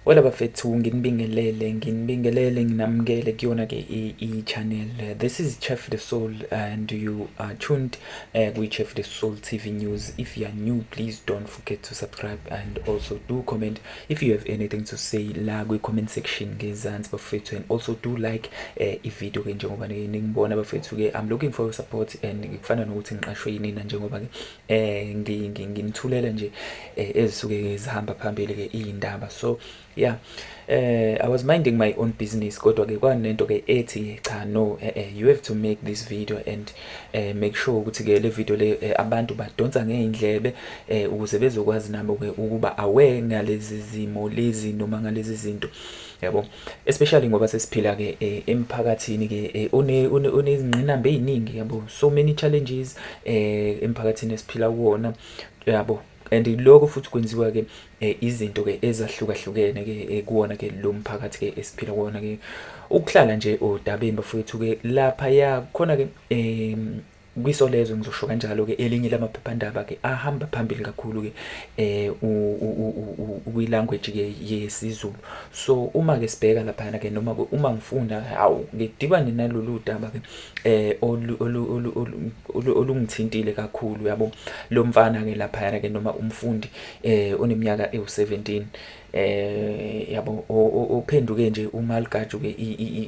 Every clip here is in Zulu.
Wela bafethu nginibingelele nginibingelele nginamukele kuyona ke i-channel this is Chef the Soul and you are tuned uh, eh, with Chef the Soul TV news if you are new please don't forget to subscribe and also do comment if you have anything to say la kwi-comment section ngezansi bafethu and also do like uh, eh, ivideo ke njengoba ningibona bafethu ke I'm looking for your support and kufana nokuthi ngiqashwe yinina njengoba ke eh ngimthulele nje eh, ezisuke zihamba phambili ke iyindaba so yeah eh i was minding my own business kodwa ke kwanento ke ethi cha no eh, eh, you have to make this video and eh, make sure ukuthi ke le video le eh, abantu badonsa ngeindlebe eh, ukuze bezokwazi nabo ke ukuba aware ngalezi zimo lezi noma ngalezi zinto yabo especially ngoba sesiphila ke eh, emphakathini ke eh, onezingqinamba eziningi yabo so many challenges eh emphakathini esiphila kuwona yabo and lokho futhi kwenziwa ke eh, izinto ke ezahlukahlukene ke eh, kuwona ke lo mphakathi ke esiphila kuwona ke ukuhlala nje odabeni bafowethu ke lapha ya khona ke eh kwiSolezwe ngizosho kanjalo-ke elinye lamaphephandaba-ke ahamba phambili kakhulu-ke um kwilanguage-ke yesiZulu so uma-ke sibheka laphayana-ke noma uma ngifunda hawu ngidibane nalolu daba-ke um olungithintile kakhulu yabo lo mfana-ke laphayana-ke noma umfundi um oneminyaka ewu-seventeen eh yabo ophenduke nje umalugaju ke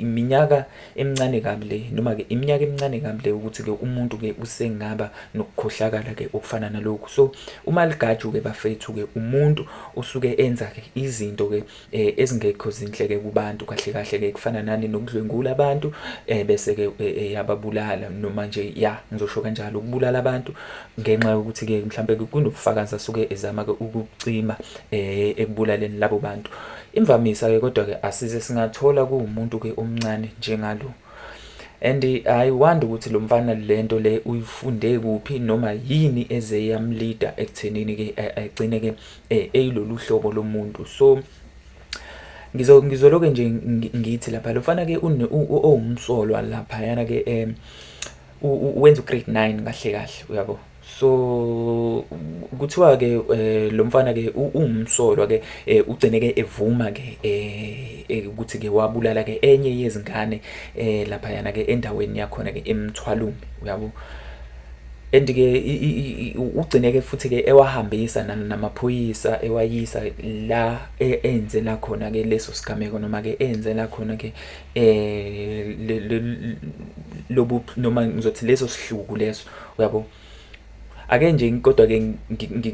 iminyaka emincane kabi le noma ke iminyaka emincane kabi le ukuthi ke umuntu ke usengaba nokukhohlakala ke okufana nalokhu so umalugaju ke bafethu ke umuntu usuke enza ke izinto ke eh, ezingekho zinhle ke kubantu kahle kahle ke kufana nani nokudlwengula abantu eh, bese ke eh, yababulala noma nje ya ngizosho kanjalo ukubulala abantu ngenxa yokuthi ke mhlambe kunobufakazi asuke ezama ke ukucima eh ekubulaleni labo bantu imvamisa ke kodwa ke asize singathola kuumuntu ke omncane njengalo and i wonder ukuthi lo mfana lento le uyifunde kuphi noma yini eze yamleader ekuthenini ke agcine ke eh, eyilolu hlobo lomuntu so ngizo ngizoloke nje ngithi lapha lofana ke owumsolwa lapha yana ke um wenza ugrade 9 kahle kahle uyabo so kuthiwa ke eh, lo mfana ke uwumsolwa ke eh, ugcine ke evuma ke eh, ukuthi ke wabulala ke enye yezingane lapha yana ke endaweni yakhona ke emthwalumi uyabo and ke ugcine ke futhi ke ewahambisa namaphoyisa ewayisa la e, enze la khona ke leso sigameko noma ke enze la khona ke eh lobu noma ngizothi leso sihluku leso uyabo ake nje kodwa ke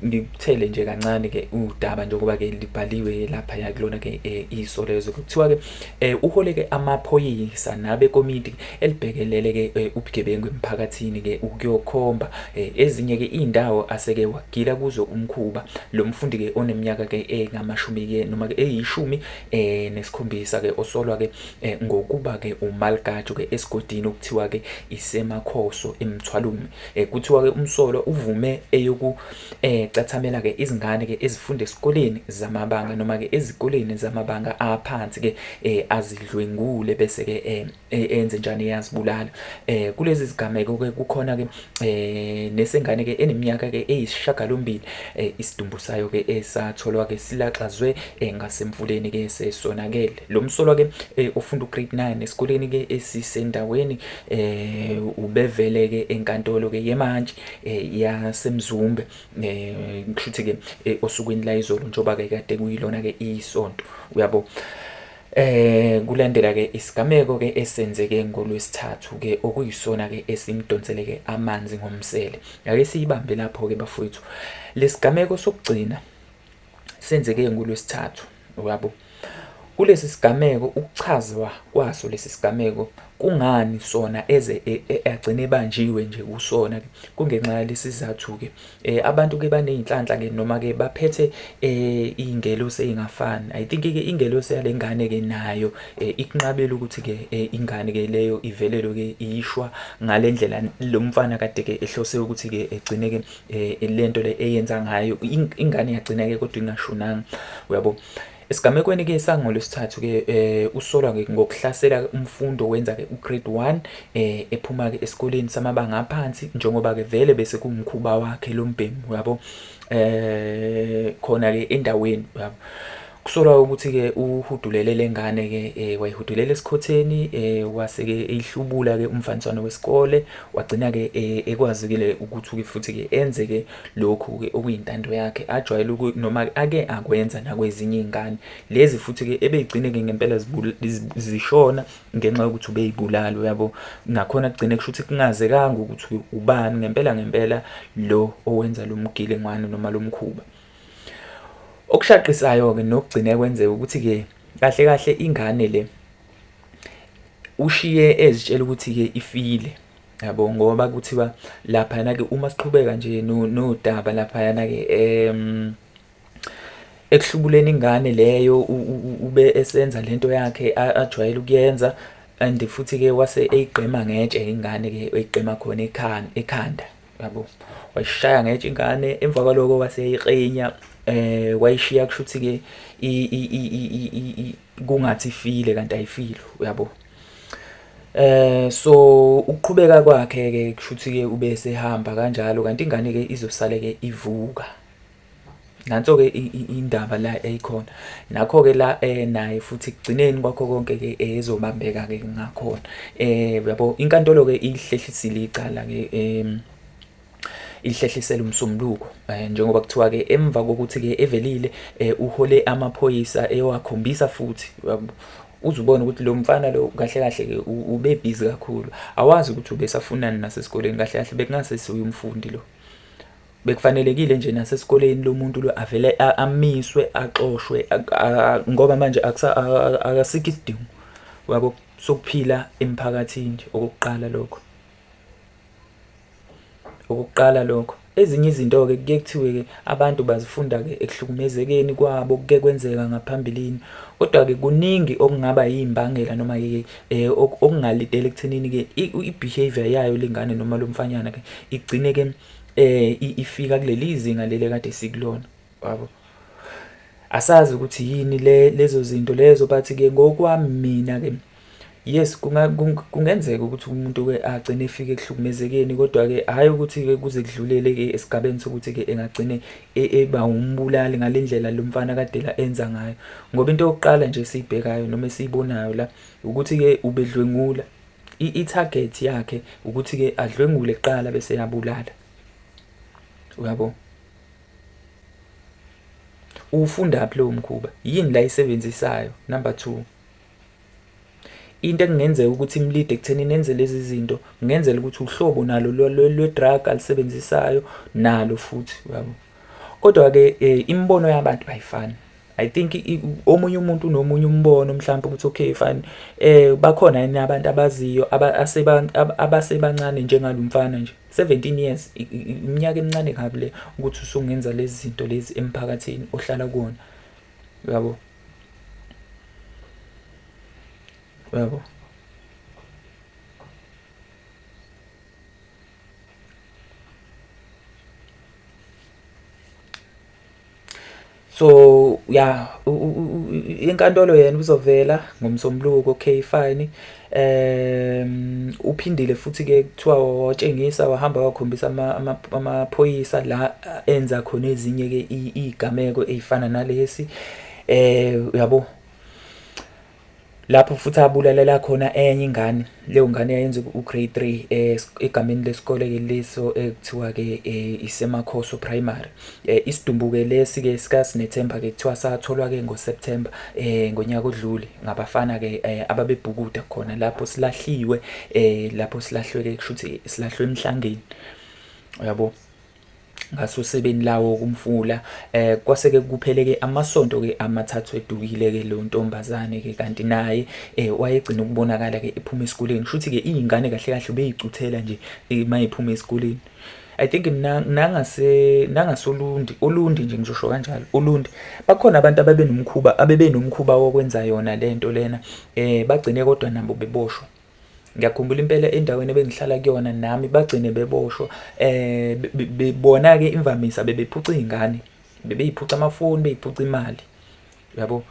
ngikuthele nje kancane ke udaba njengoba ke libhaliwe lapha ya kulona ke eh, iso lezo kuthiwa ke eh, uhole ke amaphoyisa nabe komiti elibhekelele ke eh, ubugebengu emphakathini ke ukuyokhomba ezinye ke indawo aseke wagila kuzo umkhuba lo mfundi ke oneminyaka ke engamashumi ke noma ke eyishumi eh nesikhombisa ke osolwa ke eh, ngokuba ke umalgajo ke esigodini okuthiwa ke isemakhoso emthwalume eh kuthiwa ke umsolwa uvume eyoku eh cathamela ke izingane ke ezifunde esikoleni zamabanga noma ke ezikoleni zamabanga aphansi ke eh azidlwengule bese ke eh E, enze njani eyazibulala eh kulezi zigameko ke kukhona ke eh nesengane ke eneminyaka ke eyisishagalombili eh, isidumbu sayo ke esatholwa ke silaxazwe eh, ngasemfuleni ke sesonakele lo msolwa ke eh, ofunda ugrade 9 esikoleni ke esisendaweni eh ubevele ke enkantolo ke yemantshi eh, yasemzumbe eh kushuthi ke eh, osukwini la izolo njoba ke kade kuyilona ke isonto uyabo Eh kulandela ke isigameko ke esenzeke ngolwesithathu ke okuyisona ke esimdonsele ke amanzi ngomsele. Ake siyibambe lapho ke bafowethu. Lesigameko sokugcina senzeke ngolwesithathu uyabo. Kulesi sigameko ukuchazwa kwaso lesi sigameko kungani sona eze e, e, agcine ebanjiwe nje kusona ke kungenxa yalesi sizathu ke Eh abantu ke baneyinhlanhla ke noma ke baphethe eh ingelosi engafani. I think ke ingelosi yalengane ke nayo eh, ikunqabela ukuthi ke eh, ingane ke leyo ivelelo ke ishwa ngalendlela lomfana kade ke ehlose ukuthi ke egcine ke eh, lento le eyenza ngayo ingane yagcina ke kodwa ingashonanga. Uyabo? Esigamekweni ke sangolwesithathu ke eh usolwa ke ngokuhlasela umfundo wenza ke ugrade 1 eh ephuma ke esikoleni samabanga aphansi njengoba ke vele bese kumkhuba wakhe lombhemu uyabo eh khona ke endaweni uyabo kusolwa ukuthi ke uhudulele lengane ke eh, wayihudulele esikhotheni eh, wase ke eyihlubula ke umfaniswano wesikole wagcina ke eh, ekwazikile ukuthi ke futhi ke enze ke Lokhu-ke okuyintando yakhe ajwayele uku noma ake akwenza nakwezinye iy'ngane lezi futhi-ke ebey'gcine-ke ngempela zishona ngenxa yokuthi ubey'bulala uyabo. Nakhona kugcine kusho ukuthi kungazekanga ukuthi ubani ngempela ngempela lo owenza lo mgilingwane noma lo mkhuba. Okushaqisayo-ke nokugcine kwenzeka ukuthi-ke kahle kahle ingane le ushiye ezitshela ukuthi-ke ifile. yabo ngoba kuthiwa laphayana-ke uma siqhubeka nje nodaba laphayana-ke um ekuhlubuleni ingane leyo ube esenza lento yakhe ajwayele ukuyenza and futhi-ke wase eyigqema ngetshe ingane-ke eyigqema khona ekhanda yabo wayishaya ngetshe ingane emva kwaloko waseyiqinya eh wayishiya kushuthi-ke kungathi ifile kanti ayifile uyabo Eh so ukuqhubeka kwakhe ke kushuthi ke ube sehamba kanjalo kanti ingane ke izosale ke ivuka nanso ke indaba la eyikhona nakho ke la eh naye futhi kugcineni kwakho konke ke ezobambeka ke ngakhona eh yabo inkantolo ke ihlehlisile icala ke em ilihlehlisela umsombuluko eh, njengoba kuthiwa ke emva kokuthi ke evelile eh, uhole amaphoyisa eyowakhombisa futhi uzubona ukuthi lo mfana lo kahle kahle ke ube busy kakhulu awazi ukuthi ubesafunani nasesikoleni kahle kahle bekungase siwumfundi lo bekufanelekile nje nasesikoleni lomuntu lo avele amiswe axoshwe ngoba manje akasikho isidingo wabo sokuphila emphakathini nje okokuqala lokho Ukuqala lokho. Ezinye izinto-ke kuye kuthiwe-ke abantu bazifunda-ke ekuhlukumezekeni kwabo kuke kwenzeka ngaphambilini. Kodwa-ke kuningi okungaba yimbangela noma-ke eh, okungalidela ekuthenini-ke i-behavior yayo lengane noma lo mfanyana-ke igcine-ke um eh, ifika kuleli zinga leli kade sikulona wabo. Asazi ukuthi yini le lezo zinto lezo but-ke ngokwami mina-ke Yes kungenzeka ukuthi umuntu-ke agcine efike ekuhlukumezekeni kodwa-ke hhayi ukuthi-ke kuze kudlulele-ke esigabeni sokuthi-ke engagcine e, eba umbulali ngale ndlela lo mfana kadela enza ngayo ngoba into yokuqala nje esiyibhekayo noma esiyibonayo la ukuthi-ke ubedlwengula i-target yakhe ukuthi-ke adlwengule kuqala bese yabulala uyabo uwufundaphi lowo mkhuba yini la yisebenzisayo number two Into ekungenzeka ukuthi imlide ekuthenini enze lezi zinto kungenzela ukuthi uhlobo nalo lwe-drug alisebenzisayo nalo futhi uyabo kodwa-ke um eh, imibono yabantu ayifani I think omunye umuntu unomunye umbono mhlawumbe ukuthi okay fine eh bakhona yini abantu abaziyo abasebancane njengalo mfana nje 17 years iminyaka emincane kabi le ukuthi usungenza lezi zinto lezi emphakathini ohlala kuwona uyabo Bravo. so ya inkantolo yena uzovela ngomsombuluko okay fine um uphindile futhi ke kuthiwa watshengisa wahamba wakhombisa amaphoyisa ama, ama la enza khona ezinye ke izigameko ezifana nalesi eh uyabo lapho futhi abulalela khona enye ingane leyo ngane yayenza ugrade 3 eh, egameni lesikole ke leso ekuthiwa ke eh, isemakhoso primary Eh, isidumbuke lesi ke sikaSinethemba ke kuthiwa satholwa ke ngoSeptember eh ngonyaka odlule ngabafana ke eh, ababebhukuda khona lapho silahliwe eh lapho silahlwe ke kusho ukuthi silahlwe emhlangeni uyabo ngasosebeni lawo kumfula eh kwase ke kuphele ke amasonto ke amathathu edukile ke lo ntombazane ke kanti naye eh wayegcina ukubonakala ke ephuma esikoleni kushuthi ke izingane kahle kahle beyicuthela nje eh, mayiphuma esikoleni I think nangase nangasolundi olundi nje ngizosho kanjalo olundi bakhona abantu ababenomkhuba abebenomkhuba wokwenza yona lento lena eh bagcine kodwa nabo beboshwa ngiyakhumbula impela endaweni ebengihlala kuyona nami bagcine beboshwa eh bebona ke imvamisa bebephuca izingane bebeyiphuca amafoni beyiphuca imali yabo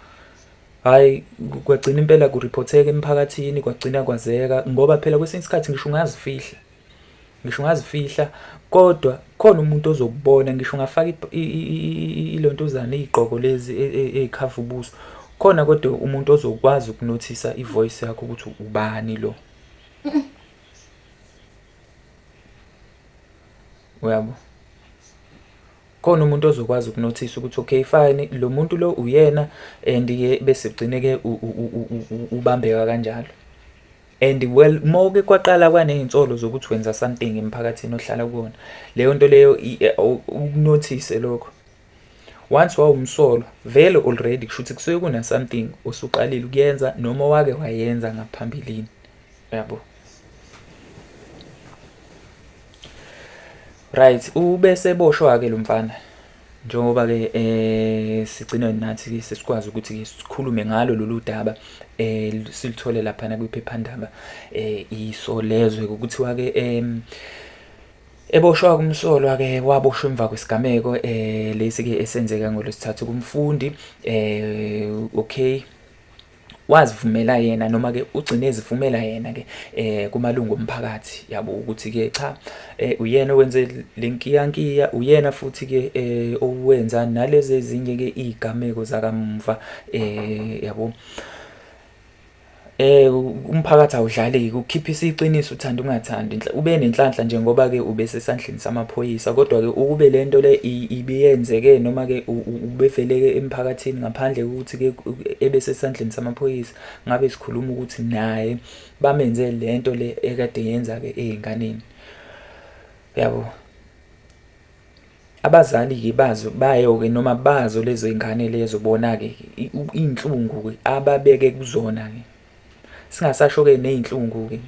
hayi kwagcina impela kuriphotheka emphakathini kwagcina kwazeka ngoba phela kwesinye isikhathi ngisho ungazifihla ngisho ungazifihla kodwa khona umuntu ozokubona ngisho ungafaka ilontuzana iy'gqoko lezi e, e, ey'khava ubuso khona kodwa umuntu ozokwazi ukunothisa ivoice yakho ukuthi ubani lo uyabo khona umuntu ozokwazi ukunothisa ukuthi okay fine lo muntu lo uyena and ke bese ugcine ke ubambeka kanjalo And well moke kwaqala kwanezinsolo zokuthi wenza something emphakathini ohlala kuwona. Leyo nto leyo eh, ukunothise lokho. Once wawumsolo vele already kushuthi kusuke kuna something osuqalile ukuyenza noma wake wayenza ngaphambilini. Yabo. Right, ubese boshwa ke lo mfana. Njengoba ke eh sigcina nathi ke sesikwazi ukuthi ke sikhulume ngalo lolu daba eh silithole lapha na kwiphephandaba eh isolezwe ukuthiwa ke eh Eboshwa kumsolwa ke waboshwa emva kwesigameko eh lesi ke esenzeka ngolwesithathu kumfundi eh okay wazivumela yena noma ke ugcine ezivumela yena ke eh kumalungu omphakathi yabo ukuthi ke cha eh, uyena owenze lenkiyankiya uyena futhi ke eh, owenza nalezi ezinye ke izigameko zakamva eh yabo eh umphakathi awudlaleki ukukhiphisa iqiniso uthanda ungathandi ube nenhlanhla nje ngoba ke ube sesandleni samaphoyisa kodwa ke ukube lento le ibiyenzeke noma ke ubeveleke emphakathini ngaphandle ukuthi ke ebesesandleni samaphoyisa ngabe sikhuluma ukuthi naye bamenze lento le ekade yenza ke ezinganeni yabo abazali ke bazo bayo ke noma bazo lezo ingane lezo bona ke inhlungu ke ababeke kuzona ke singasasho ke nezinhlungu ke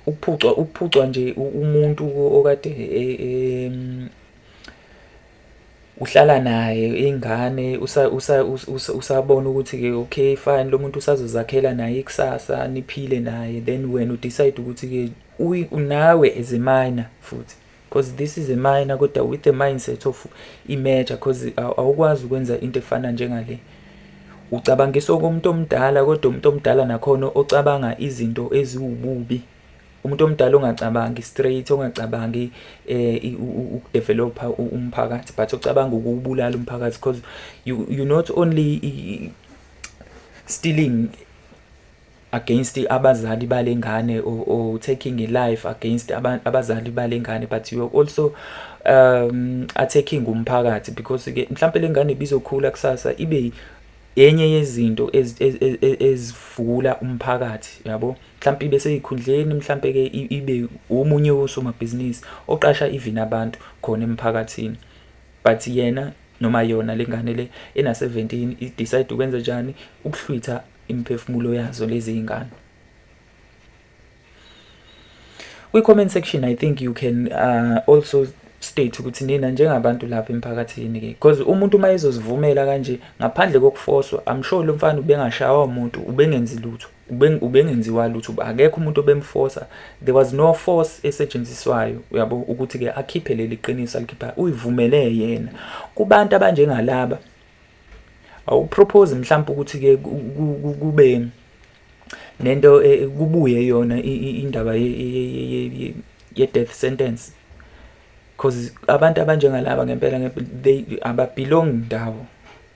ukuphucwa ukuphucwa nje umuntu okade e, e, uhlala naye ingane usabona ukuthi-ke okay fine lo muntu usazozakhela naye ikusasa niphile naye then wena udecide ukuthi-ke nawe as a minor futhi because this is a minor kodwa with the mindset of i-major because awukwazi ukwenza into efana njengale ucabangisa okomuntu omdala kodwa umuntu omdala nakhona ocabanga izinto eziwububi umuntu omdala ongacabangi straight ongacabangi eh ukudevelopa umphakathi but ocabanga ukubulala umphakathi because you you not only stealing against abazali balengane or, or taking a life against abazali balengane but you are also um attacking umphakathi because ke mhlambe lengane bizokhula kusasa ibe yenye yezinto ezivula umphakathi yabo mhlawumpe ibe seyikhundleni mhlawumpe-ke ibe omunye wosomabhizinisi oqasha even abantu khona emphakathini but yena noma yona le ngane le ena-17 idecide ukwenza njani ukuhlwitha imiphefumulo yazo lezi y'ngane kwi-comment section i think you can uh, also state ukuthi nina njengabantu lapha emphakathini ke because umuntu uma ezozivumela kanje ngaphandle kokufoswa i'm sure lo mfana ubengashawa umuntu ubengenzi lutho ubengenziwa lutho akekho umuntu obemfosa there was no force esetshenziswayo uyabo ukuthi ke akhiphe leli qiniso alikhipha uyivumele yena kubantu abanjengalaba awupropose mhlawumbe ukuthi ke kube nento e, kubuye yona indaba ye death sentence because abantu abanjengalaba ngempela they ababelong ndawo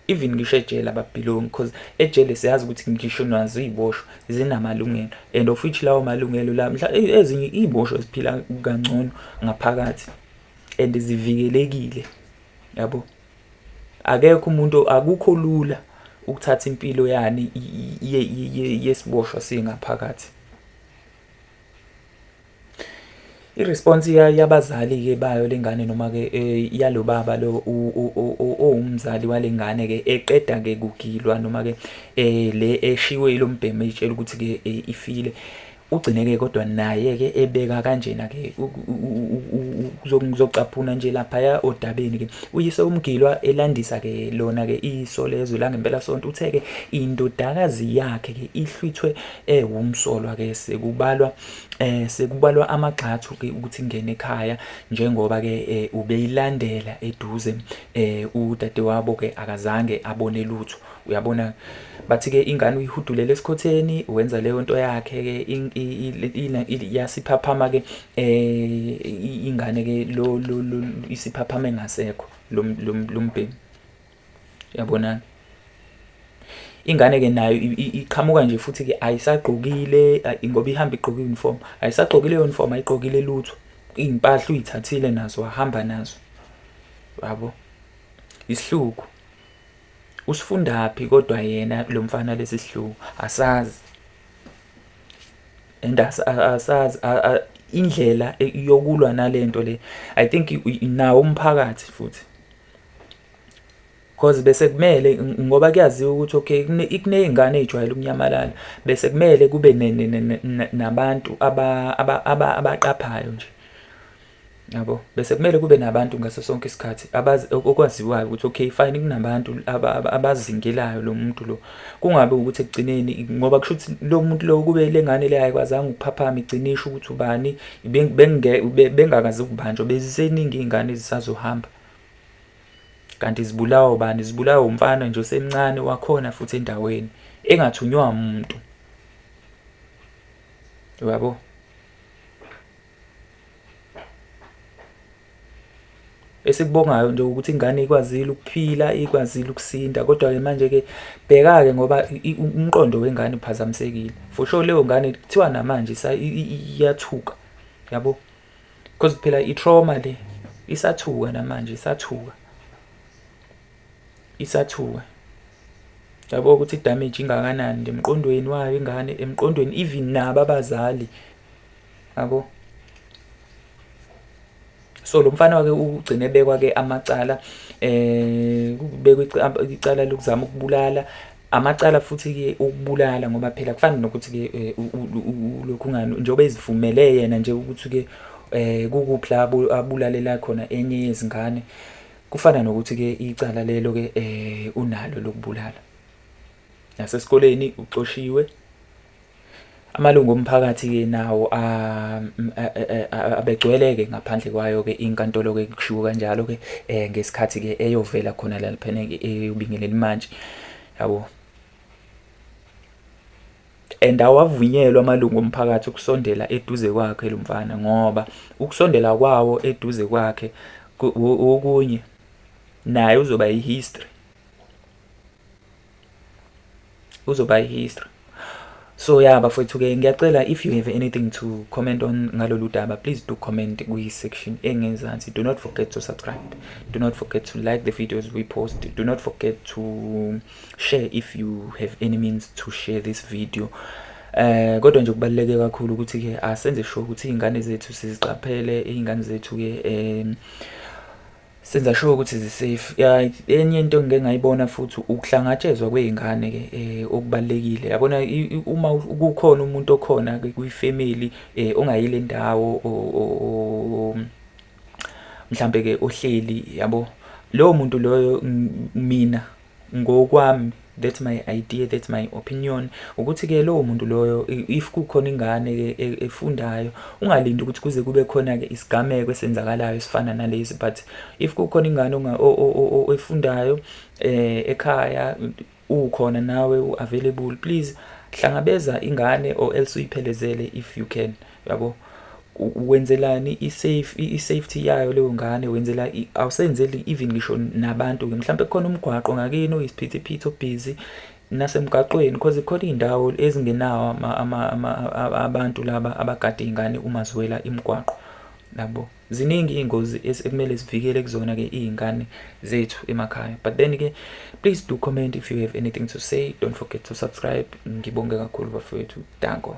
even ngisho ejele ababhilongi because ejele siyazi ukuthi ngisho nazo iy'boshwa zinamalungelo and of which lawo malungelo la mhla e, ezinye iy'boshwa ziphila kangcono ngaphakathi and zivikelekile yabo akekho umuntu akukho lula ukuthatha impilo yani yesiboshwa singaphakathi I-response yabazali-ke bayo le ngane noma-ke eh, yalo baba lo owumzali wale ngane-ke eqeda-ke kugilwa noma-ke eh, le eshiwe yilo mbhemu eyitshela ukuthi-ke eh, ifile ugcineke kodwa naye-ke ebeka kanjena-ke kuzocaphuna nje laphaya odabeni-ke uyise umgilwa elandisa-ke lona-ke iso lezwe langempela sonto uthe-ke indodakazi yakhe-ke ihlwithwe ewumsolwa ke sekubalwa eh sekubalwa amagxathu ke ukuthi ngene ekhaya njengoba ke eh, ubeyilandela eduze eh udadewabo ke akazange abone lutho uyabona bathi ke ingane uyihudulele esikhotheni wenza leyo nto yakhe ke iyasiphaphama ke eh ingane ke lo isiphaphama engasekho lombhemi Yabona? Ingane ke nayo iqhamuka nje futhi ke ayisagqokile ngoba ihamba igqoke uniform. Ayisagqokile leyo uniform ayigqokile lutho. Iy'mpahla uyithathile nazo wahamba nazo. Yabo? Isihluku. Usifundaphi kodwa yena lo mfana lesi sihluku? Asazi. And asazi indlela yokulwa nalento le I think nawo umphakathi futhi. Cause bese kumele ngoba kuyaziwa ukuthi okay kuney'ngane ey'jwayele ukunyamalala bese kumele kube nabantu abaqaphayo nje yabo bese kumele kube nabantu ngaso sonke isikhathi okwaziwayo ukuthi okay fine kunabantu abazingelayo lo muntu lo kungabe ukuthi ekugcineni ngoba kusho ukuthi lo muntu lo kube le ngane le ayikwazanga ukuphaphama igcine isho ukuthi ubani bengakazi ukubanjwa beziseningi iy'ngane ezisazohamba kanti zibulawa ubani zibulawa umfana nje osemncane wakhona futhi endaweni engathunywa umuntu uyabo esikubongayo nje ukuthi ingane ikwazile ukuphila ikwazile ukusinda kodwa ke manje ke bheka ke ngoba umqondo wengane uphazamisekile for sure leyo ngane kuthiwa namanje iyathuka yabo because phela i-trauma le isathuka namanje isathuka isathuka yabo ukuthi damage ingakanani emqondweni wayo ingane emqondweni even nabo abazali yabo so lo mfana wake ugcine bekwa ke amacala eh kubekwa icala lokuzama ukubulala amacala futhi-ke okubulala ngoba phela kufana nokuthi-ke eh, ulokhu ngani njengoba ezivumele yena nje ukuthi-ke um kukuphi la abulalela khona enye yezingane kufana nokuthi-ke icala lelo-ke um unalo lokubulala nasesikoleni uxoshiwe Amalungu omphakathi-ke nawo abegcwele-ke ngaphandle kwayo-ke inkantolo-ke kushiwo kanjalo-ke um ngesikhathi-ke eyovela khona laliphene eyobingelela imantshi yabo and awavunyelwa amalungu omphakathi ukusondela eduze kwakhe lo mfana ngoba ukusondela kwawo eduze kwakhe okunye naye uzoba yihistory uzoba history so ya bafowethu ke ngiyacela if you have anything to comment on ngalolu daba please do comment kwi-section engenzansi do not forget to subscribe do not forget to like the videos we post do not forget to share if you have any means to share this video eh kodwa nje kubaluleke kakhulu ukuthi ke asenze sure ukuthi izingane zethu siziqaphele izingane zethu ke eh senza sure ukuthi zisafe ya enye into ngike ngayibona futhi ukuhlangatshezwa kwezingane ke eh, okubalekile yabona uma kukhona umuntu okhona kuyifamily eh, ongayile ndawo mhlambe ke ohleli yabo lowo muntu loyo mina ngokwami that's my idea that's my opinion ukuthi ke lowo muntu loyo if kukhona ingane ke e, efundayo ungalindi ukuthi kuze kube khona ke isigameko esenzakalayo esifana nalezi but if kukhona ingane efundayo eh ekhaya ukhona nawe uavailable please hlangabeza ingane or else uyiphelezele if you can yabo wenzelani i-safe i-safety yayo leyo ngane wenzela awusenzeli even ngisho nabantu-ke mhlawumpe kukhona umgwaqo ngakini oyisiphithiphithi obhizi nasemgaqweni because khona iy'ndawo ezingenawo abantu laba abagade iy'ngane uma ziwela imigwaqo nabo Ziningi iy'ngozi ekumele sivikele kuzona-ke iy'ngane zethu emakhaya but then-ke please do comment if you have anything to say don't forget to subscribe ngibonge kakhulu bafowethu danko